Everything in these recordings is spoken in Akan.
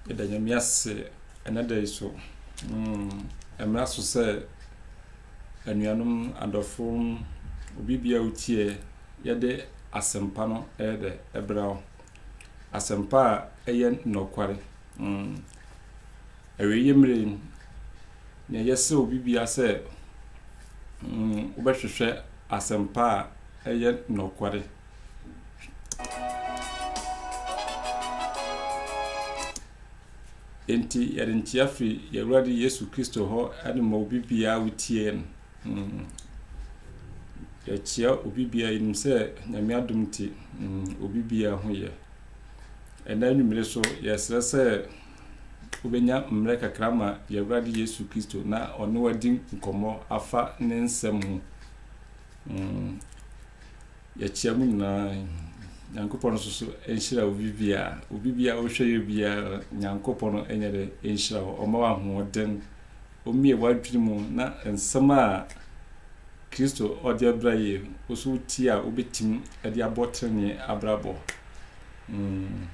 yɛda nyame ase ɛnɛ da yi so ɛmmra mm, so sɛ anuanom adɔfo obi bia wotiɛ yɛde asɛmpa no ɛyɛ dɛ ɛbra wo Asɛmpa a ɛyɛ nɔkware. Mm. Awieeɛ mmere yi, nea yɛsɛ obi bia sɛ mm, wobɛhwehwɛ asɛmpa a ɛyɛ nɔkware. Enti yɛde nkyea firi Yɛwurade Yesu Kristo hɔ de ma obi biara wotie no. Mm. Yɛkyea obi biara yɛnim sɛ Nyame adom nti mm, obi biara ho yɛ. Ɛnɛ anwummere so yɛsrɛ sɛ wobɛnya mmerɛ kakra ma Yɛwurade Yesu Kristo na ɔne wadi nkɔmmɔ afa ne nsɛm ho. Mm. Yɛkyea mu nyinaa. Nyankopɔn nso so nhyira obi biara. Obi biara wohwɛ yɛ biara Nyankopɔn ɛnyɛ dɛ nhyira hɔ. Ɔma wɔ ahoɔden Omie w'adwene mu na nsɛm a Kristo ɔde abra yie no, wo so wo tie a wobɛtim de abɔ trenee abrabɔ. Mm.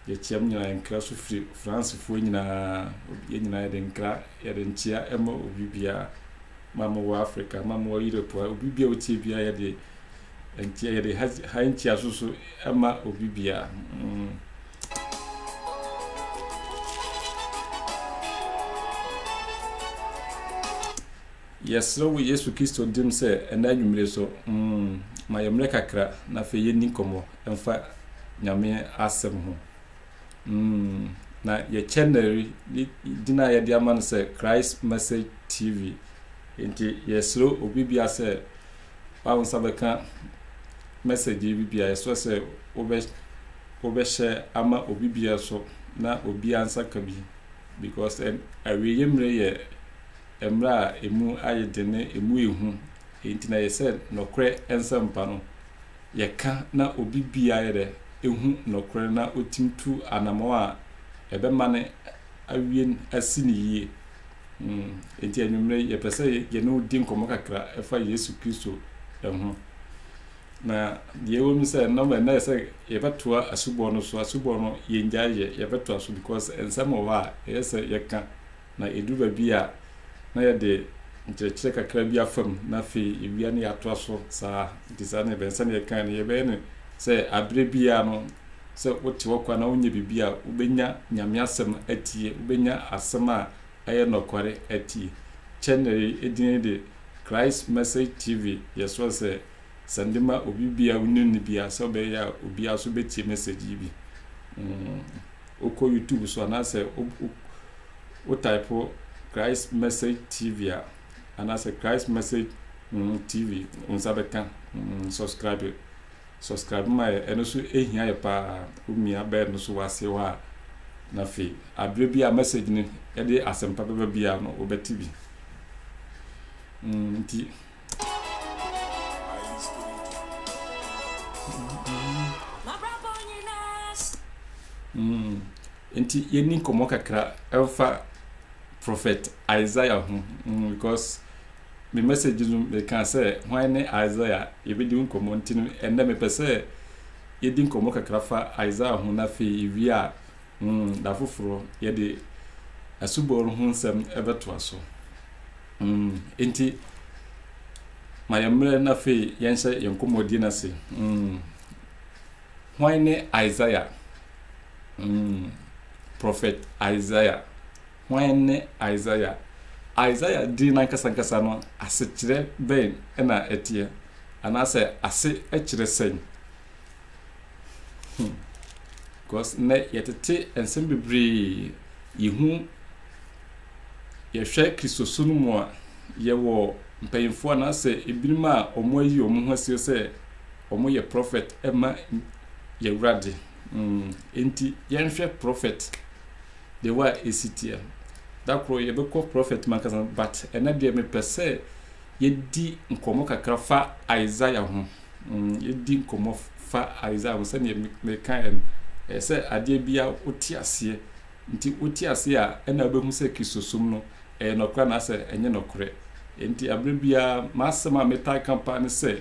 Yɛkyeam nyinaa nkra so firi Francefoɔ nyinaa. Yɛn nyinaa yɛde nkra, yɛde nkyea ɛma obi biara. Ma mo wɔ Africa, ma mo wɔ Europe a, obi biara wotie biara yɛde nkyea, yɛde ha, ha nkyea so so ɛma obi biara. Mm. Yɛsrɛ wo Yesu Kristo dim sɛ ɛnɛ anwummere so, mm, ma yɛn mmerɛ kakra na afei yɛnni nkɔmmɔ mfa Nyame asɛm ho. Mm, na yɛ channel yi din a yɛde ama no sɛ Christ Message TV. Nti yɛsrɛ obi bia sɛ wawo nsa bɛka message yi bi bia yɛsrɛ sɛ wobɛ Wobɛhyɛ ama obi biara so na obiara nsa ka bi because ɛn awieeɛ mmerɛ yɛ mmerɛ a ɛmu ayɛ den ne ɛmu yɛ hu enti na yɛ sɛ nɔkorɛ nsɛmpa no yɛ ka na obi biara yɛ dɛ ɛhu nɔkorɛ no na ɔtim tu anamɔn a ɛbɛma no awie asi ne yie mm enti anwummerɛ yɛpɛ sɛ yɛne wo di nkɔmmɔ kakra ɛfa Yesu Kristo ɛho. Na deɛ ɛwɔ mu sɛ nnam ɛnna yɛ sɛ yɛbɛtoa asubɔ no so asubɔ no yɛngyae yɛ yɛbɛtoa so because nsɛm wɔ hɔ a ɛyɛ sɛ yɛka na ɛduru baabi a na yɛde nkyerɛkyerɛ kakra bi afam na afei yɛwia ne yɛatoa so saa nti saa na yɛbɛn sɛdeɛ yɛkae no yɛbɛyɛ no sɛ aberɛ biara no sɛ wote hɔ kwa na wonyɛ biribi a wobɛnya nyame asɛm atie wobɛnya asɛm a ɛyɛ nɔkware atie channel yi din de Christ Message TV yɛsrɛ sɛ sɛ mede ma obi bi a wonim no bi a sɛ ɔbɛyɛ a obiara nso bɛtie message yi bi mm, wokɔ youtube so anaasɛ wotype christ message tv a anaasɛ christ message mm, tv wo nsa bɛka mm, subscribe subscribe ma yɛ ɛno so ɛhia yɛ paa womia bɛɛ no so wase hɔ a na afei aberɛ bi a message no ɛde asɛmpa bɛba bi a no wobɛte bi mm, nti Nti yɛni nkɔmmɔ kakra ɛfa prophet Isaiah ho mm, because me message no meka sɛ hwan ne Isaiah yɛbɛdi nkɔmmɔ nti no ɛnɛ mepɛ sɛ yɛdi nkɔmmɔ kakra fa Isaiah ho na afei yɛwie a Mm, da foforɔ yɛde asubɔ no ho nsɛm bɛtoa so. Mm, enti ma yɛn mmerɛ na afei yɛnhyɛ yɛn nkɔmmɔdie no ase. Mm, hwan ne Isaiah? Mm, Prophet Isaiah. Hwan ne Isaiah? Isaiah din n'ankasankasa no asekyerɛ bɛn na ɛteɛ? Anaasɛ ase kyerɛ sɛn? Hmm. Because nnɛ yɛtete nsɛm bebree yɛhu yɛhwɛ kristoso no mu a yɛwɔ mpanyimfoɔ anaasɛ ebinom a wɔn ayi wɔn ho asie sɛ wɔn yɛ prɔfɛt ɛma yɛwurade hmm. nti yɛnhwɛ prɔfɛt deɛ wa esi teɛ dakoro yɛbɛkɔ prɔfɛt mu ankasa but ɛnɛ deɛ mepɛ sɛ yɛdi nkɔmɔ kakra fa isaiah ho. yɛdi nkɔmmɔ fa Isaiah ho sɛdeɛ mekaeɛ no ɛyɛ sɛ adeɛ bia wote aseɛ nti wote aseɛ a ɛna wobɛhu sɛ kristosom no ɛyɛ nɔkorɛ anaasɛ ɛnyɛ nɔkorɛ nti aberɛ biara m'asɛm a metaa ka paa ne sɛ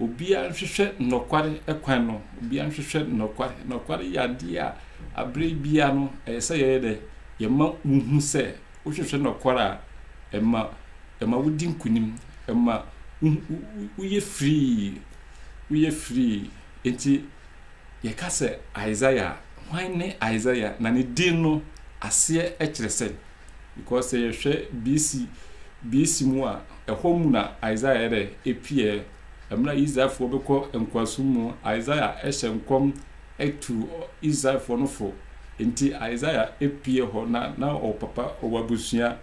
obiara nhwehwɛ nnɔkware kwan no obiara nhwehwɛ nnɔkware nnɔkware yɛ adeɛ a aberɛ biara no ɛyɛ sɛ yɛyɛ dɛ yɛma wohu sɛ Wohwehwɛ nokwar a, ɛma ɛma wodi nkunim, ɛma woyɛ firii, woyɛ firii. Enti yɛka sɛ Isaiah a, hwan ne Isaiah? Na ne din no aseɛ kyerɛ sɛn? Because sɛ yɛhwɛ BC, BC mu a, ɛhɔ mu na Isaiah yɛ dɛ epiɛ. Mmerɛ a Israelfoɔ bɛkɔ nkoasom mu, Isaiah hyɛ nkɔm tuu Israelfoɔ no fo. Enti Isaiah pue hɔ na na ɔwɔ papa, ɔwɔ abusua.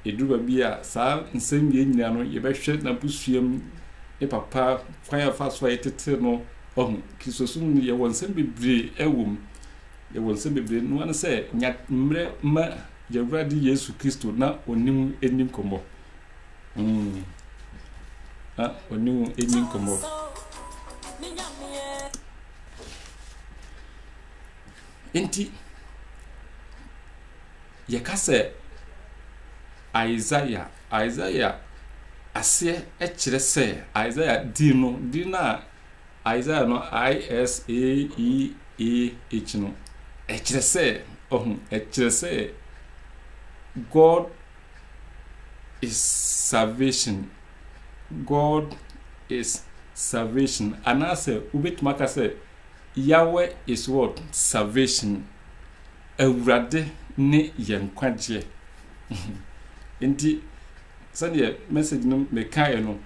Ɛduru baabi a saa nsɛm wei nyinaa no yɛbɛhwɛ n'abusuam, ne papa, kwan a ɛfa so a yɛtetee no ahu. Kristosom no yɛwɔ nsɛm bebree ɛwɔ mu. Yɛwɔ nsɛm bebree no ano sɛ nya mmerɛ ma yɛwurade Yesu Kristo na ɔnim ɛni nkɔmmɔ. Mm. Na ɔnim ɛni nkɔmmɔ. Enti, yɛka sɛ Isaiah, Isaiah aseɛ kyerɛ sɛ Isaiah din no, din no a Isaiah no I-S-A-E-A-H no, ɛkyerɛ sɛ, ɔho, ɛkyerɛ sɛ God is salvation. God is salvation. Anaasɛ wobɛtumi aka sɛ Yahweh is what? Salvation. Awurade ne yɛn nkwagyeɛ. Nti sɛdeɛ message no mekaeɛ no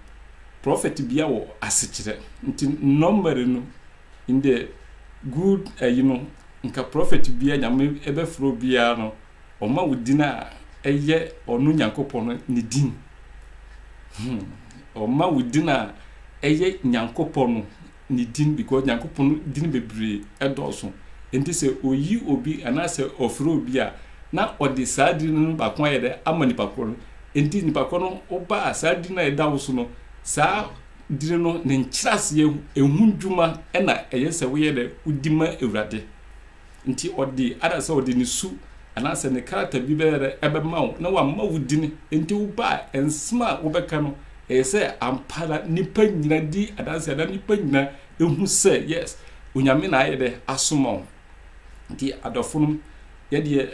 prɔfɛt bia wɔ asekyerɛ nti nɔmmɛre no in the good ayi eh, no nka prɔfɛt bia nyame ɛbɛforɔ biara no Ɔma wo din a ɛyɛ ɔno Nyankopɔn no ne din. Hmm. Ɔma wo din a ɛyɛ Nyankopɔn no ne din because Nyankopɔn no din bebree ɛdɔɔso. Nti sɛ oyi obi anaasɛ ɔfrɛ obi a na ɔde saa din no baako ayɛ dɛ ama nipa korɔ no. Nti nipa korɔ no woba a saa din no a ɛda wo so no saa din no ne nkyerɛaseɛ ɛho dwuma ɛna ɛyɛ sɛ woyɛ dɛ wodi ma Awurade. Nti ɔde adasɛ ɔde ne su anaasɛ ne krataa bi bɛyɛ dɛ ɛbɛma wo na wama wo din. Nti wo ba a, nsɛm a wobɛka no, ɛyɛ sɛ ampa ara nnipa nyina di adanseɛ na nnipa nyina ɛhu sɛ yes, Onyame na ayɛ dɛ asoma wo. Nti adɔfonom, yɛdeɛ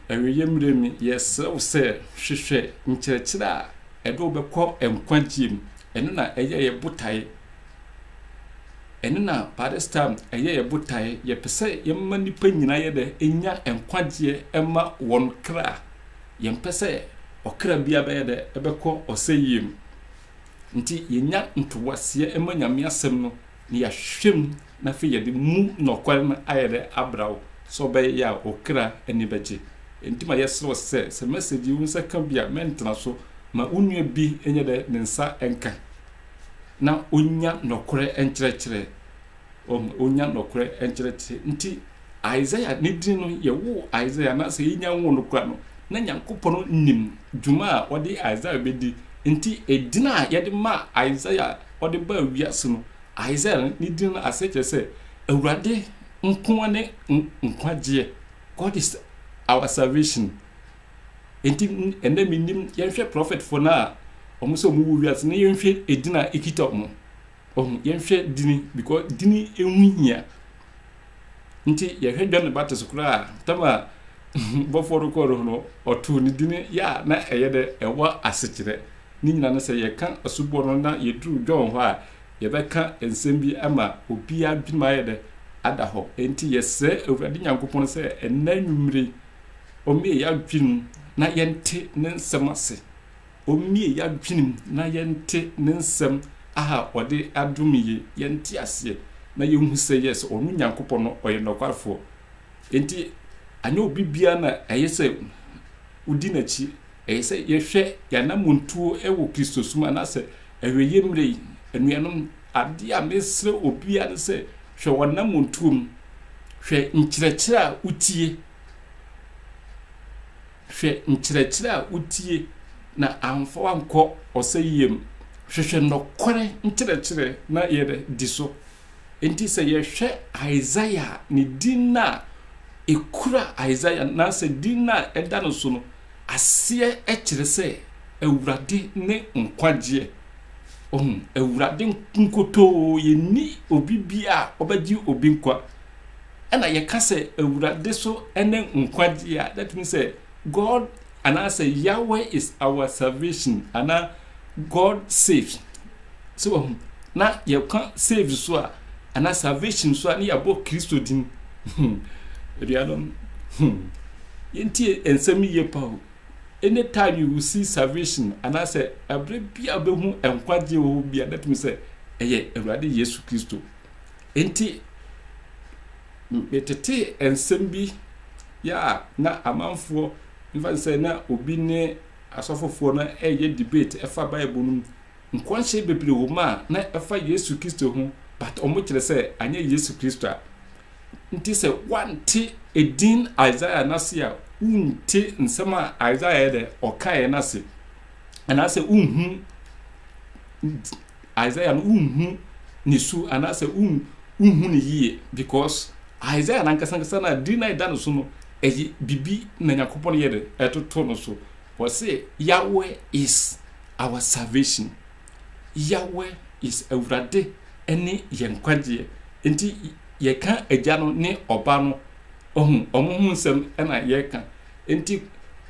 awieɛ mmerɛ mi, yɛsrɛ wo sɛ hwehwɛ nkyerɛkyerɛ a ɛde wo bɛkɔ nkwagyeɛ mu. Ɛno na ɛyɛ yɛ botaeɛ Ɛno na barista ɛyɛ yɛ botaeɛ. Yɛpɛ sɛ yɛma nnipa nyinaa yɛ dɛ ɛnya nkwagyeɛ ɛma wɔn kra. Yɛmpɛ sɛ ɔkra biara bɛyɛ dɛ ɛbɛkɔ ɔsɛyie mu. Nti yɛnya ntoaseɛ ɛma Nyame asɛm no na yɛahwehwɛ mu na afei yɛde mu nɔkware no ayɛ dɛ abra wo sɛ ɔbɛyɛ a wo kra ani bɛgye. Nti ma yɛsrɛ wo sɛ, sɛ message yi wo nsa ka bi a mɛntena so ma wo nua bi nyɛ dɛ ne nsa nka. na onya nɔkorɛ nkyerɛkyerɛ. Wɔn, onya nɔkorɛ nkyerɛkyerɛ. Nti, Isaiah ne din no, yɛwoo Isaiah, anaasɛ yɛnya nwoo no kora no, na Nyankopɔn nim dwuma a ɔde Isaiah bɛdi. Nti, edin a yɛde maa Isaiah a ɔde baa wiase no, Isaiah no, ne din no aseɛ kyerɛ sɛ, Awurade nko ne nkwagyeɛ, God is our salvation. Enti ɛnɛ menim yɛnhwɛ prɔfɛtfoɔ no a wɔn sɛ wɔn wɔ wiase na yɛnhwɛ edin a ekita wɔn. Ɔho yɛnhwɛ dini because dini ehu hia. Nti yɛhwɛ John the Baptist koraa tam a bɔfoɔ no kɔɔ no ho no ɔtoo ne dini yɛ a na ɛyɛ dɛ ɛwɔ asekyerɛ. Ne nyinaa no sɛ yɛka asubɔ no na yɛduru John hɔ a yɛbɛka nsɛm bi ama obiara dwenem ayɛ dɛ ada hɔ. Enti yɛsrɛ Awurade Nyankopɔn sɛ ɛnɛ nwummere Ɔmmie yɛn adwenem na yɛnte ne nsɛm ase. Ɔmmie yɛn adwenem na yɛnte ne nsɛm a ɔde adome yɛn, yɛnte aseɛ na yɛnhu sɛ yes, ɔno Nyankopɔn no ɔyɛ nɔkwarefoɔ. Enti anyɛ obi biara na ɛyɛ sɛ wodi n'akyi. Ɛyɛ sɛ yɛhwɛ yɛn anammɔntuo wɔ Kristosom anaasɛ awieeɛ mmerɛ yi. Anuanom, Ade a mesrɛ obiara ne sɛ hwɛ w'anammɔntuo mu, hwɛ nkyerɛkyerɛ a wotie, hwɛ nkyerɛkyerɛ a wotie na amfa wankɔ ɔsɛyie mu. Hwehwɛ nɔkɔrɛ nkyerɛkyerɛ na yɛ dɛ di so. Nti sɛ yɛhwɛ Isaiah a, ne din no a ɛkura Isaiah nasɛ din no a ɛda no so no aseɛ kyerɛ sɛ Awurade ne nkwagyeɛ. Wahu? Awurade nkotoo, yɛnni obi bi a ɔbɛgye obi nkwa. Ɛna yɛka sɛ Awurade so ne nkwagye a, that means sɛ God anaasɛ Yahweh is our salvation anaa God saves. So wahu? Na yɛka save so a anaa salvation so a ne yɛabɔ Kristo din. Hmm. Aduanom, hmm. Yɛntie nsɛm yiye pa o. Anytime you will see salvation, anaasɛ ɛberɛ bi a wobɛhu nkwagye wɔ hɔ bi a, natumi sɛ ɛyɛ Awurade Yesu Kristo. Enti, metetee nsɛm bi yɛ a na amanfoɔ mfa sɛ na obi ne asɔfofoɔ no ɛyɛ debate ɛfa Bible no mu. Nkɔnhyɛ bebree wɔ mu a na ɛfa Yesu Kristo ho, but wɔn kyerɛ sɛ anyɛ Yesu Kristo a. Nti sɛ woante edin Isaiah no ase a, wonte nsɛm a Isaiah yɛ dɛ ɔkaeɛ no ase. Anaasɛ wonhu Isaiah no wonhu ne su anaasɛ wonhu ne yie because Isaiah no ankasa ankasa no a din no a ɛda no so no ɛyɛ biribi na Nyankopɔn yɛ dɛ ɛtoto no so. Wɔse Yahweh is our salvation. Yahweh is Awurade ne yɛn nkwagyeɛ. Enti yɛka Agya no ne Ɔba no ɔhu ɔmo ho nsɛm na yɛka. Enti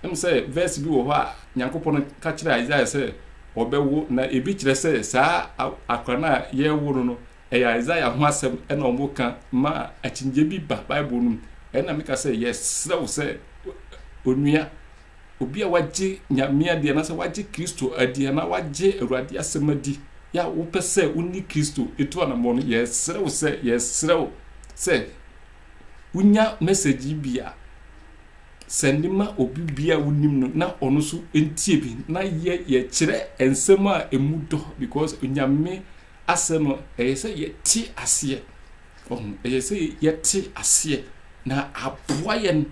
ɛm sɛ verse bi wɔ hɔ a Nyankopɔn ka kyerɛ Isaiah sɛ ɔbɛwo na ebi kyerɛ sɛ saa akora no a yɛrewo no no ɛyɛ Isaiah ho asɛm na ɔmo ka ma akyinnyɛ bi ba Bible no mu. Ɛna meka sɛ yɛsrɛ wo sɛ onua Obi a wagye Nyame adi anaasɛ wagye Kristo adi anaa wagye Awurade asɛm adi yɛ a wopɛ sɛ wo ne Kristo tu anammɔn no, yɛsrɛ wo sɛ, yɛsrɛ wo sɛ wonya message yi bi a, sɛnde ma obi bi a wonim no na ɔno nso ntie bi na yɛ yɛkyerɛ nsɛm a ɛmu dɔ because Onyame Asɛ no, ɛyɛ sɛ yɛte aseɛ. Ɔho, ɛyɛ sɛ yɛte aseɛ na aboa yɛn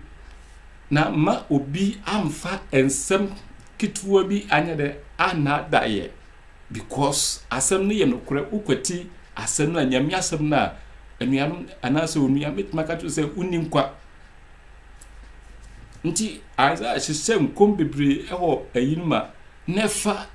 na ma obi amfa nsɛm ketewa bi anyɛ dɛ anada yɛ because asɛm no yɛ nokorɛ wokwati asɛm no a nyame asɛm no a anuanom anaasɛ onua mɛtumi aka kyerɛ sɛ wonni nkwa nti Isaiah hyehyɛ nkɔm bebree ɛwɔ ayinom a na ɛfa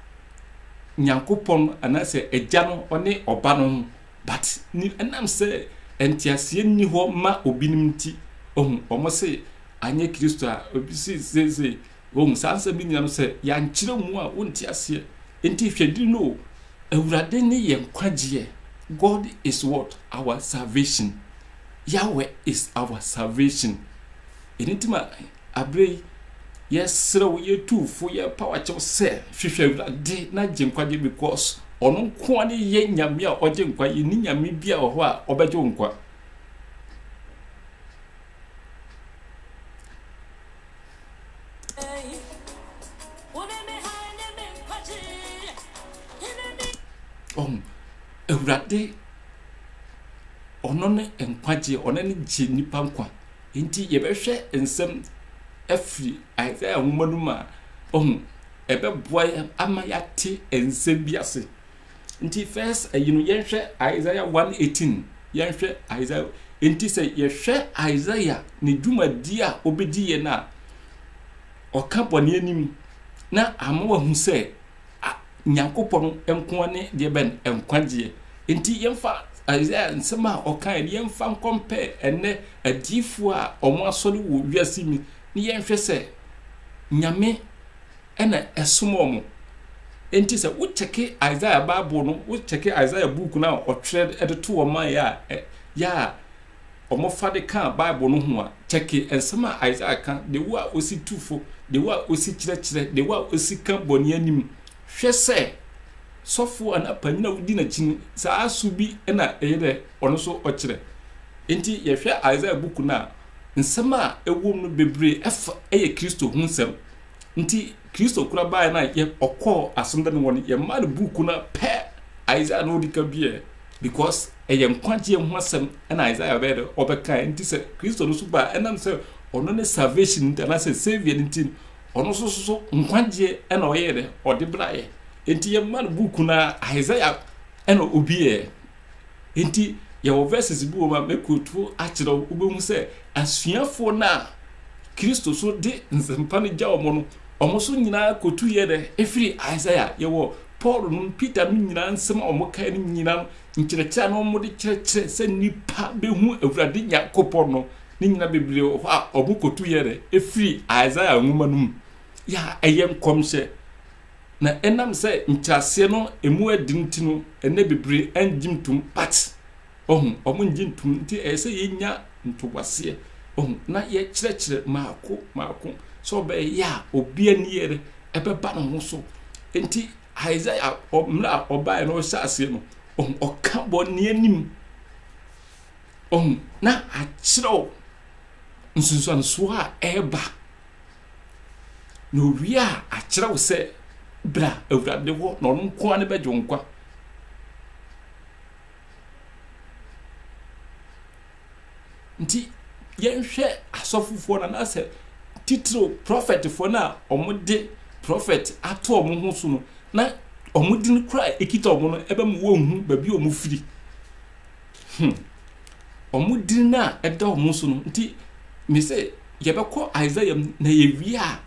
Nyankopɔn anaasɛ Agya no ɔne Ɔba no ho, but ni ɛnam sɛ nteaseɛ nni hɔ ma obinom nti, ohu, wɔn se anyɛ Kristo a, obi se seesei, ohu, saa nsɛm no nyina no sɛ yɛankyerɛ mu a wonte aseɛ. Nti hwɛ diri no o, Awurade ne yɛn nkwagyeɛ, God is what? Our salvation, Yahweh is our salvation, ɛno nti ma. Aberɛ yi, yɛsrɛ wo, yɛtuu fo, yɛpaw akyɛw sɛ, hwehwɛ Awurade na gye nkwagye because Ɔno nkoa ne yɛ Nyame a ɔgye nkwa, yɛnni Nyame biaa wɔ hɔ a ɔbɛgye wo nkwa. Ɔho, Awurade Ɔno ne nkwagyeɛ, Ɔno ne gye nnipa nkwa. Enti yɛbɛhwɛ nsɛm afiri Isaiah nwoma no mu a, ɔho, ɛbɛboa yɛ ama yɛate nsɛm bi ase. Nti first ayi no yɛnhwɛ Isaiah 118, yɛnhwɛ Isaiah. Enti sɛ yɛhwɛ Isaiah ne dwumadi a ɔbɛdi yɛ no a, ɔka bɔne anim na ama wahu sɛ a Nyankopɔn nko ara ne deɛ bɛn nkwagyeɛ. Enti yɛmfa Isaiah nsɛm a ɔkaeɛ no yɛmfa nkɔmpɛɛ ɛnnɛ adiyifoɔ a wɔn asɔre wɔ wiase mu na yɛnhwɛ sɛ Nyame ɛna ɛsoma wɔn. Enti sɛ wo kyɛke Isaiah Bible no, wo kyɛke Isaiah book no a ɔtwerɛ de to wɔn a yɛ a, yɛ a wɔfa de kã Bible no ho a, kyɛke nsɛm a Isaiah kã, de wo a osi tu fo, de wo a osi kyerɛkyerɛ, de wo a osi kã bɔne anim. Hwɛ sɛ sɔfo anaa panyin a wudi n'akyi no, saa su bi na ɛyɛ dɛ ɔno nso ɔkyerɛ. Enti yɛhwɛ Isaiah buku no a, nsɛm a ɛwom no bebree fa yɛ Kristo ho nsɛm, Nti Kristo kora baeɛ no a yɛ ɔkɔɔ asomdɛ no wɔ no yɛmaa no buuku no pɛ Isaiah na ɔdi ka biɛ because ɛyɛ nkwagyeɛ ho asɛm ɛna Isaiah bɛyɛ dɛ ɔbɛkae nti sɛ Kristo no so baa ɛnam sɛ ɔno ne salvation nti anaasɛ saviour no nti ɔno nso so nkwagyeɛ ɛna ɔyɛ dɛ ɔde braeɛ nti yɛmaa no buuku no Isaiah ɛna obiɛ Enti yɛwɔ verses bi wɔ mu a mɛ quote akyerɛ wo, wobɛhu sɛ asuafoɔ no a Kristo so de nsɛmpa no gya wɔn no, wɔn nso nyinaa quote yɛ dɛ, ɛfiri Isaiah, yɛwɔ Paul no, Peter no nyinaa nsɛm a wɔn kae no nyinaa no, nkyerɛkyerɛ a na wɔn de kyerɛkyerɛ sɛ nipa bɛhu Awurade Nyankopɔn no, ne nyinaa bebree wɔ hɔ a wɔn quote yɛ dɛ, ɛfiri Isaiah nwoma no mu. Yɛ a ɛyɛ nkɔmhyɛ. Na enam sɛ nkyeaseɛ no emu ɛden nti no, ɛnnɛ bebree ɛngye ntum, but, wahu, wɔn ngye ntum, nti ɛyɛ sɛ yɛnya ntoboaseɛ, wahu, na yɛkyerɛkyerɛ maako maako, sɛ ɔbɛɛyɛ a obi ani yɛrɛ ɛbɛba ne ho so. Nti Isaiah, mmerɛ a ɔbaeɛ no ɔhyɛ aseɛ no, wahu, ɔka bɔne anim, wahu, na akyerɛw nsunsuansoɔ a ɛɛba, Na owie a, akyerɛ wo sɛ, bra Awurade hɔ, na ɔno nko ara ne bɛgye wo nkwa. Nti, yɛnhwɛ asɔfofoɔ no anaasɛ titiriw prɔfɛtfoɔ no a wɔde prɔfɛt ato wɔn ho so no na wɔn din kora a ɛkita wɔn no ɛbɛma wɔnhu baabi a wɔfiri. Hmm. Wɔn din no a ɛda wɔn so no nti, mese yɛbɛkɔ Isaiah mu na yɛwie a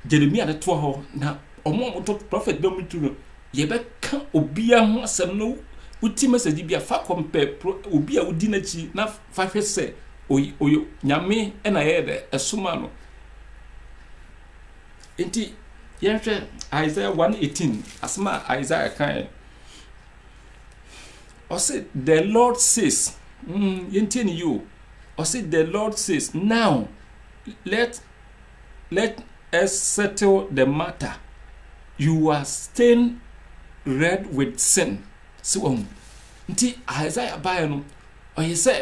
Jeremia no toa hɔ na wɔn a wɔtɔ prɔfɛt bɛ mu tu no yɛbɛka obiara ho asɛm no woti mɛsɛgye bi a fa kɔ mpɛ obi a wodi n'akyi na fa hwɛ sɛ ɔyɛ nyame na ɛyɛ dɛ ɛsoma no nti yɛnhwɛ Isaiah 118 asɛm a Isaiah kae ɔse the lord says mm, yɛntie ne yio ɔse the lord says now let let us settle the matter you are stained red with sin si wɔn nti isaiah baeɛ no ɔyɛ sɛ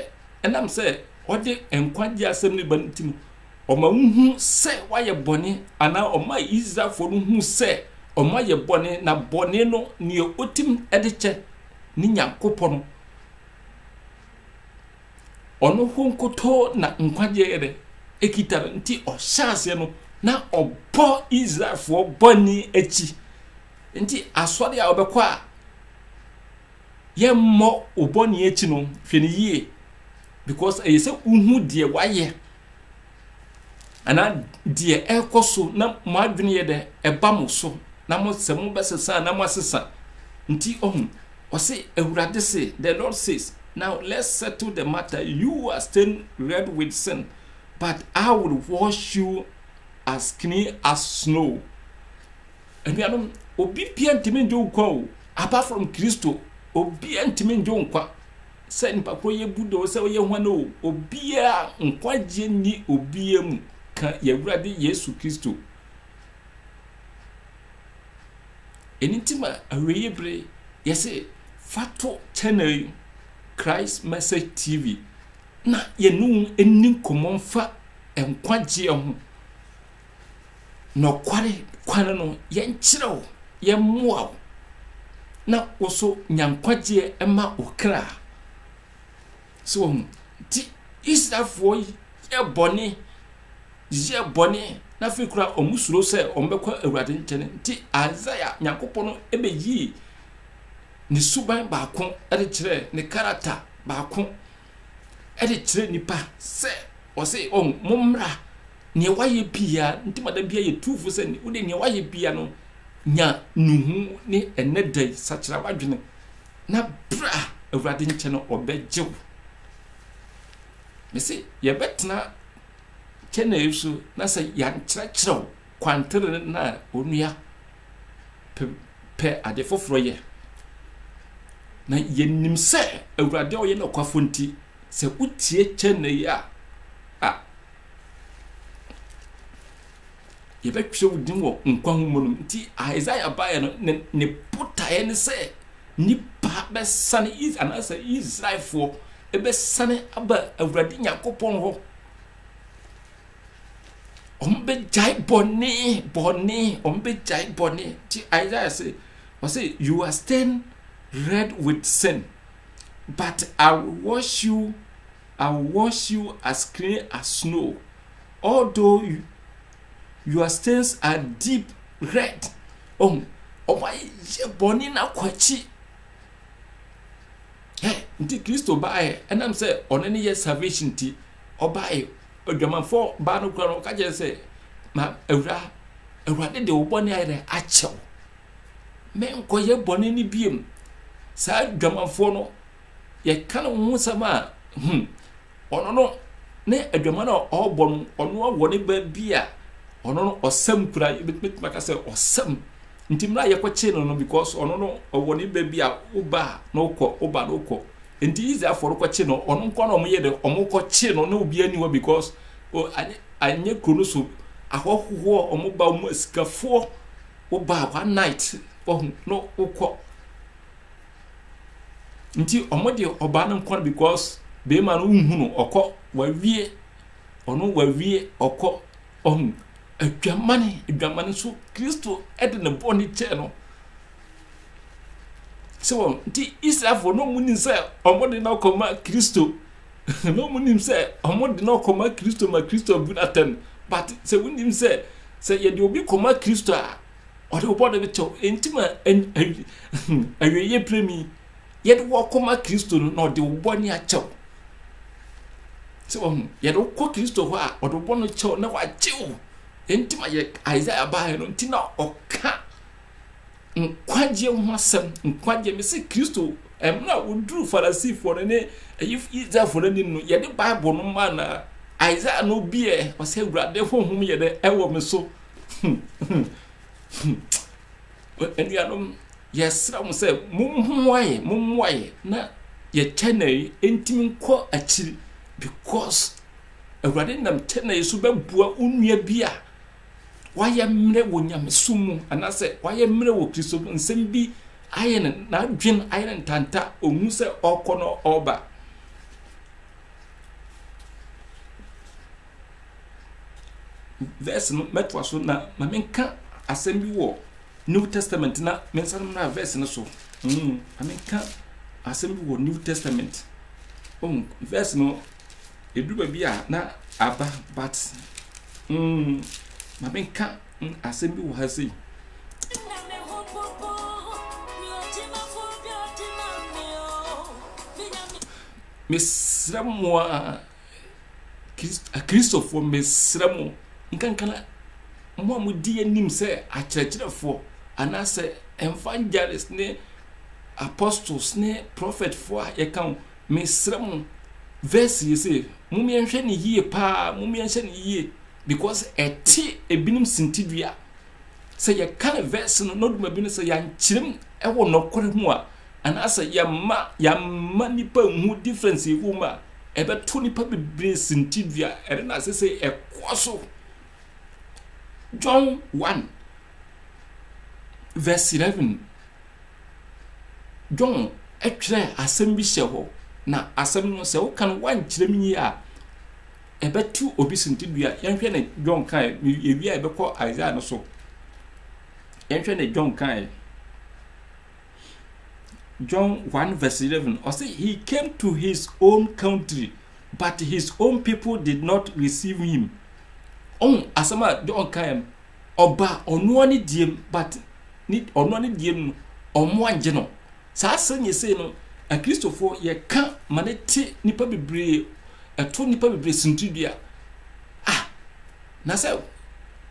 ɛnam sɛ ɔde nkwagye asɛm no ba no nti no Ɔma wohu sɛ wɔayɛ bɔne, anaa ɔmaa Israelfoɔ no hu sɛ wɔayɛ bɔne, na bɔne no, neɛ ɔtim de kyɛ ne Nyankopɔn. Ɔno ho nkotoo na nkwagyeɛ no kita no, nti ɔhyɛ aseɛ no, na ɔbɔ Israelfoɔ bɔne akyi. Nti asɔre a wɔbɛkɔ a yɛmmɔ wo bɔne akyi no, hwɛ no yie. Because ɛyɛ sɛ wohu deɛ wayɛ anaa deɛ ɛrekɔ so na mo adwene yɛ dɛ ɛba mo so na mo sɛ mo bɛsesa na mo asesa nti ɔho ɔse awurade se the lord says now let's settle the matter you are still red with sin but I will wash you as clean as snow anuanom obi bia ntumi ndwo nkwa o apart from Kristo obi ntumi ndwo nkwa sɛ nnipa korɔ yɛ bu dɔ sɛ ɔyɛ hwan o, obiaa nkwagyeɛ nni obiaa mu ka y'Awurade Yesu Kristo. Ɛno nti ma awieɛ bere yɛse fa to channel yi Christ Message TV na yɛne wo nni nkɔmmɔ mfa nkwagyeɛ ho. nɔkware kwan no, yɛnkyerɛ wo, yɛmmoa wo, na wo nso nya nkwagyeɛ mma wo kra. So wɔn nti Israelfoɔ yɛ bɔne, yɛ bɔne, na afei kura wɔn suro sɛ wɔn bɛkɔ Awurade nkyɛn nti Isaiah Nyankopɔn no ɛbɛyii ne suban baako ɛde kyerɛ ne karata baako de kyerɛ nnipa sɛ ɔse wɔn mommra nea wayɛ pia nti ma da bia yɛ tuufo sɛ wode nea wayɛ pia no nya nuhu ne ɛnɛ da yi sakyera wadwene na bra awurade nkyɛn no ɔbɛgye wo mese yɛbɛtena kyɛnɛ so na sɛ yɛankyerɛkyerɛ wo kwantere no a onua pɛ ade foforɔ yɛ. Na yɛnim sɛ Awurade a ɔyɛ nokwafoɔ nti, sɛ wotie kyɛ na yi a, a yɛbɛtwerɛ wo din wɔ nkwa ho mu no nti Isaiah baeɛ no ne ne botaeɛ ne sɛ nipa bɛsane anaasɛ Israelfoɔ ɛbɛsane aba Awurade Nyankopɔn hɔ wɔn bɛ gyae bɔne bɔne wɔn bɛ gyae bɔne ti isaiah say ɔsɛ you are stained red with sin but i will wash you i will wash you as clean as snow although you, your stains are deep red wɔn wɔn ayɛ bɔne na kɔ akyi ɛ nti kristo baayɛ ɛnam sɛ ɔne ne yɛ salvation ti ɔbaayɛ Odwamanfoɔ baa no kura no, ɔka kyerɛ sɛ, ma awura, awurade de wo bɔne ayɛ dɛ akyɛ wo. Menkɔyɛ bɔne no biem. Saa adwamanfoɔ no, yɛka no ho sɛm a, hmm, ɔno no, ne adwama no a ɔrebɔ no, ɔno awɔ ne ba bi a, ɔno no ɔsɛm kura, yɛbɛtumi aka sɛ ɔsɛm. Nti mmerɛ a yɛkɔkyee no no, because ɔno no ɔwɔ ne ba bi a, wo ba a, na wokɔ, wo ba na wokɔ. Nti Israelfoɔ no kɔkye no, wɔn nko na wɔyɛ dɛ, wɔkɔkye no na obiara nni hɔ because o, anyɛ, anyɛ kuro no so ahɔhoɔ, wɔba wɔn asikafoɔ, woba one night, wahu, no wokɔ. Nti wɔn de ɔbaa no nko no because bɛrima no nhu no, ɔkɔ, wawie, ɔno wawie, ɔkɔ, wahu. Adwamane, adwamane nso Kristo de ne bɔne kyɛɛ no. sɛ wɔn nti israelfoɔ na wɔn nim sɛ wɔn de no kɔma kristo na wɔn nim sɛ wɔn de no kɔma kristo ma kristo abu n'atɛn but sɛ wɔn nim sɛ sɛ yɛde obi kɔma kristo a ɔde wɔbɔ de bɛkyɛw nti ma awieɛ piremi yɛde wɔ kɔma kristo no na ɔde wɔbɔ ne akyɛw sɛ wɔn yɛde kɔ kristo hɔ a ɔde wɔbɔ no kyɛw na wakyew nti ma yɛ isaiah baa no nti na ɔka nkwagyeɛ ho asɛm nkwagyeɛ me se kristo mmerɛ a wɔduru farisifoɔ no ne israelfoɔ no anim no yɛde bible no ma na isaia no biɛ ɔsɛ awurade honhom yɛ dɛ ɛwɔ me so anuanom yɛsrɛ mo sɛ mommoaeɛ mommoaeɛ na yɛkyɛ na ɛntimi nkɔ akyiri because awurade nam kyɛ na yɛ so bɛboa wo nua bi a wayɛ mmerɛ wɔ nyamesom mu anaasɛ wayɛ mmerɛ wɔ kristo mu nsɛm bi ayɛ no n'adwen ayɛ no ntanta ɔhu sɛ ɔkɔ no ɔba verse no mɛtoa so na ma menka asɛm bi wɔ new testament na mensa no mmra verse no so mm, ma menka asɛm bi wɔ new testament oh, verse no Ɛduru baabi a na aba but mm, ma menka mm, asɛm bi wɔ ha sei. Mesrɛ mo a Kristofoɔ mesrɛ mo nkankana mo a modi anim sɛ akyerɛkyerɛfoɔ anaasɛ ɛmfa gyares ne apostles ne prophetfoɔ a yɛka ho Mesrɛ mo verse yi se momyɛ nhwɛ no yie paa momyɛ nhyɛ no yie because ɛte ebinom sintidua sɛ yɛka ne verse no na oduma bi no sɛ yɛankyerɛm ɛwɔ nɔkore ho a anaasɛ yɛma yɛma nipa nhu difference ɛwɔ mu a ɛbɛto nipa bebree sintidua ɛde na ase sɛ ɛkɔ so John 1 verse 11 John twerɛɛ asɛm bi hyɛ hɔ, na asɛm no sɛ woka no woankyerɛ me yie a, ɛbɛto obi sintidua. Yɛnhwɛ ne John kae, yɛwie a yɛbɛkɔ Isaiah no so. Yɛnhwɛ ne John kae. John 1 verse 11, ɔse, He came to his own country, but his own people did not receive him. Ɔhu asɛm a John kae no, Ɔba ɔnoa ne diem but ne ɔnoa ne diem no ɔmo angye no. Saa asɛm yɛ sei no akristofoɔ yɛka ma ne te nipa bebree ɛto nipa bebree sintidua. Ah na sɛ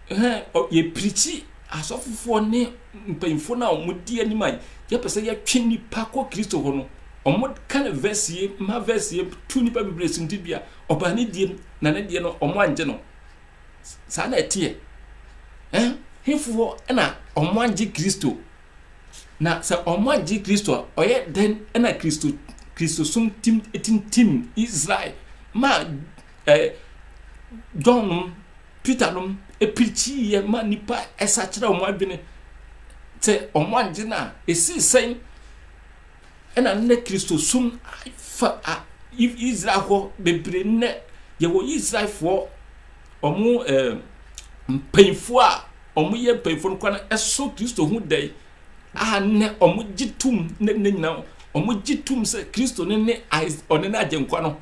hɛn yɛ pirikyi asɔfofoɔ ne mpanyinfoɔ no a ɔmo di anim a yɛpɛ sɛ yɛtwe nipa kɔ kristo hɔ no ɔmo ka ne verse yie ma verse yie to nipa bebree sintidua ɔbaa ne diem na ne deɛ no ɔmo angye no. saa na ɛteɛ eh hefoɔ na ɔmo agye kristo na sɛ ɔmo agye kristo a ɔyɛ dɛn na kristo kristo som tim tintim israel ma eh, john nom peter nom epirikyiiɛ ma nipa ɛsa kyerɛ ɔmo adwene sɛ ɔmo agye no a ɛsii sɛn Ɛna nnɛ Kristosom fa a Israel hɔ bebree nnɛ yɛwɔ Israelfoɔ ɔmo ɛɛ mpanyinfoɔ a ɔmo yɛ mpanyinfoɔ no kora no ɛso Kristo ho dɛn a nnɛ ɔmo gye tum ne ne nyinaa ɔmo gye tum sɛ Kristo ne ne ɔne ne agyenkwa no.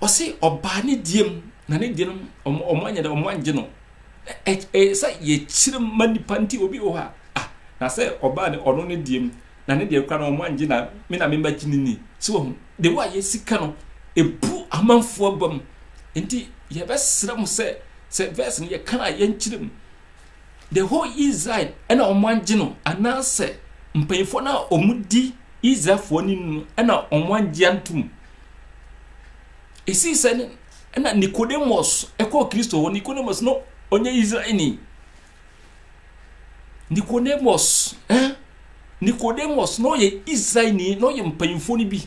ɔse ɔbaa ne diem na ne deɛ no ɔmo anyɛ dɛ ɔmo angye no ɛyɛ sɛ yɛkyerɛ ma nipa nti obi wɔ hɔ a ah na sɛ ɔbaa ne ɔno ne diem na ne deɛ kora no ɔmo angye na me na mema gye ne ni sɛ wɔn de wo a yɛ sika no ebu amanfoɔ abam nti yɛbɛsrɛ mo sɛ sɛ verse no yɛka a yɛnkyerɛ mu The whole Israel ɛna wɔn agye no anaasɛ mpanyinfoɔ no a wɔn di Israelfoɔ ni no ɛna wɔn agye antum esi sɛ no ɛna Nicodemus ɛkɔ Kristo hɔ Nicodemus no ɔnyɛ Israel ni Nicodemus ɛn eh? Nicodemus no ɔyɛ Israel ni na ɔyɛ mpanyinfoɔ no bi.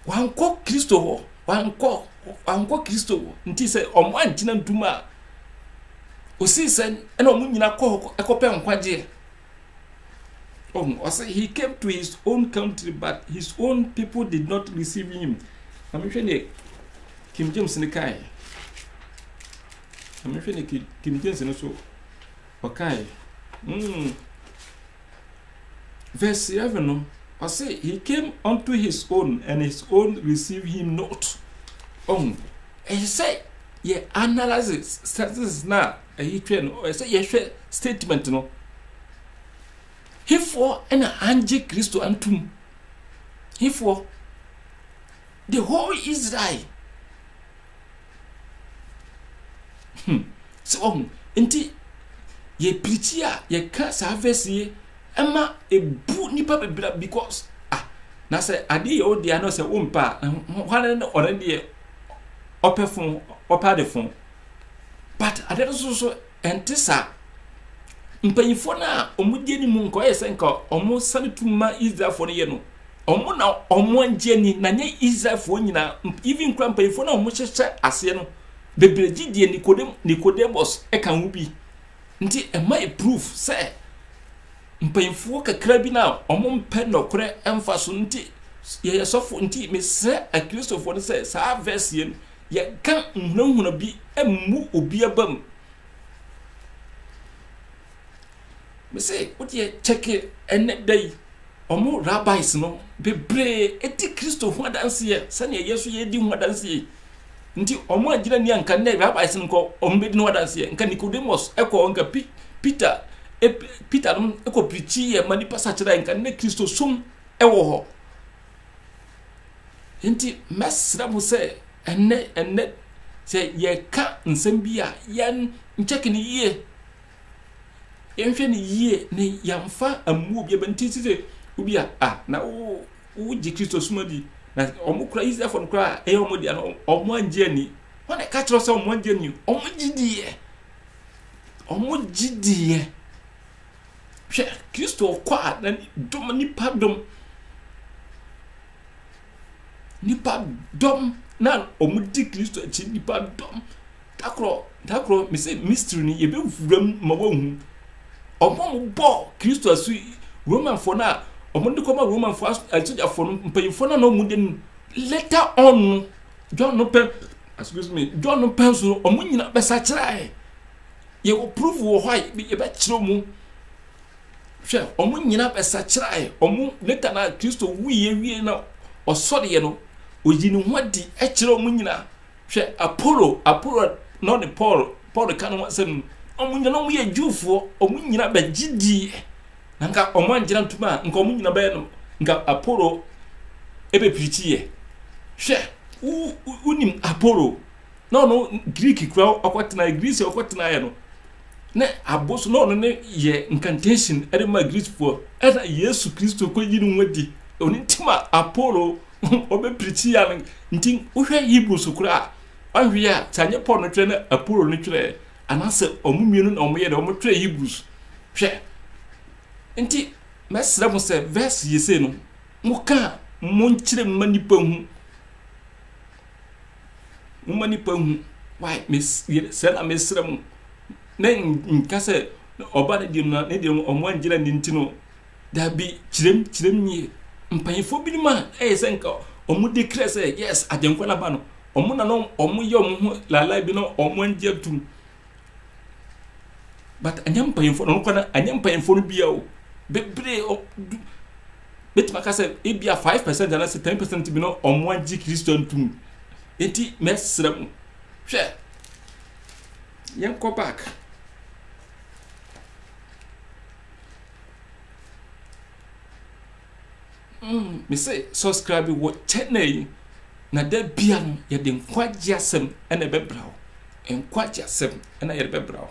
wankɔ kristo hɔ wankɔ wankɔ kristo hɔ nti sɛ ɔmo ankyina ntum a osii sɛ ɛna ɔmo nyina kɔ hɔ ɛkɔpɛ nkwagyeɛ ɔmo ɔsɛ he came to his own country but his own people did not receive him na mehwɛ ne King James ne kae na mehwɛ ne King James ne so Ɔkae. Mm. Verse 11 no, ɔse, He came unto his own, and his own received him not. Ɔhu, ɛyɛ sɛ yɛ analyze sentences no a ɛyi twɛ no, ɛyɛ sɛ yɛhwɛ statement no. Hefoɔ na angye Kristo antom? Hefoɔ? The whole Israel Hmm. Sɛ wahu. Nti yɛ pirikyi a yɛka saa verse yi ɛma ebu nipa bebree because ah na sɛ adeɛ yɛ ɔdeɛ ano sɛ wompɛ a eh, hwane na ɔno deɛ ɔpɛ fo ɔpɛ ade fo but adeɛ no so so ɛnte saa mpanyinfoɔ no a wɔn di anim nka ɔyɛ sɛ nka wɔn sani tu ma israelfoɔ no yɛ no. Ɔmo na ɔmo angye ani na nyɛ Israelfoɔ nyinaa, even kura mpanyinfoɔ na ɔmo hyehyɛ aseɛ no bebree gye deɛ Nikodem, Nicodemus ɛka ho bi. Nti ɛma yɛ proof sɛ mpanyinfoɔ kakra bi na ɔmo mpɛ nɔkorɛ ɛmfa so nti yɛyɛ sɔfo nti mesrɛ akristofoɔ no sɛ saa verse yɛ no yɛka nhunahuna bi mmu obi abam. Me se wo deɛ kyɛke ɛnɛ da yi ɔmo rabbis no bebree edi Kristo ho adanseɛ sɛnea yɛn nso yɛdi ho adanseɛ nti ɔmo agyina ni anka nnɛ rabbis no nkɔ ɔmo bedi ho adanseɛ nka Nicodemus ɛkɔ nka P Peter e Peter no ɛkɔ pirikyi yɛ ma nipa sakyera nka nnɛ Kristo som ɛwɔ hɔ nti mɛsrɛ mo sɛ ɛnɛ ɛnɛ sɛ yɛka nsɛm bi a yɛn nkyɛke no yie Yɛnhwɛ no yie na yɛmfa mmuo obiara bɛ nti sɛ obi a a na wo wogye kristo som adi na wɔn kura israelfoɔ no kura a ɛyɛ wɔn deɛ no wɔn angye ani wɔn na ɛka kyerɛ sɛ wɔn angye ani wɔn gye diiɛ wɔn gye diiɛ hwɛ kristo kɔ a na dom nipa dom nnipadɔm na wɔdi Kristo akyi nnipadɔm dakorɔ dakorɔ mese mystery no yɛbɛwura mu ma wɔahu ɔmo mo bɔ Kristo asu Romanfoɔ no a ɔmo de kɔma Romanfoɔ asogyafoɔ no mpanyinfoɔ no na ɔmo de no later on no John no pɛn excuse me John no pɛn so ɔmo nyina bɛsa kyerɛ yɛwɔ proof wɔ hɔ a yɛbɛkyerɛ mu Hwɛ, wɔn nyinaa bɛsakyeraeɛ. Wɔn later na Kristo wuiɛ wie na ɔsɔreɛ no, ɔyi ne ho adi kyerɛ wɔn nyinaa. Hwɛ, Apollo, Apollo na ɔne Paul, Paul ka ne ho asɛm no. Wɔn nyinaa wɔn yɛ Jewfoɔ, wɔn nyinaa bɛgye diiɛ. Na nka wɔn angyina ntom a, nka wɔn nyinaa bɛyɛ no, nka Apollo ɛbɛpirikyiiɛ. Hwɛ, wonim Apollo, na ɔno greek kura ɔkɔtena greece ɔkɔtenaeɛ no na aboso na ɔno ne yɛ incantation ɛde ma greecefoɔ ɛna yesu kristo kɔyi ne ho adi ɔno nti ma apollo ɔbɛpirikyi ya no nti wohwɛ hebrew so koraa a wahwɛ a sɛ anyɛ paul no twerɛ na apollo no twerɛ anaasɛ ɔmo mmienu na ɔmo yɛ dɛ ɔmo twerɛ hebrews hwɛ nti mɛsrɛ mo sɛ verse yɛ sei no mo ka mo nkyerɛ mma nipa hu Momma nnipa nhu. Why? Mes, sɛ na mesrɛ mo. Na nka sɛ ɔba no deɛ no ne deɛ ɔmo angyina ne nti no. Dabi, kyerɛm, kyerɛm nie. Mpanyinfoɔ binom a ɛyɛ sɛ nka ɔmo di krɛ sɛ yes, agyenkwa no aba no. Ɔmo na na ɔmo yɛ ɔmo ho laalae bi na ɔmo angye atum. but ɛnyɛ mpanyinfoɔ na ɔnokɔ na ɛnyɛ mpanyinfoɔ no bia o bebree ɔ du betumi aka sɛ ebi a five percent anaasɛ ten percent bi na ɔmo agye kristo ntum eti mɛsrɛ mo hwɛ yɛn kɔ back Mm me se subscribe wɔ channel yi na da bia no yɛde nkwagye asɛm ɛna ɛbɛbra wo nkwagye asɛm ɛna yɛde bɛbra wo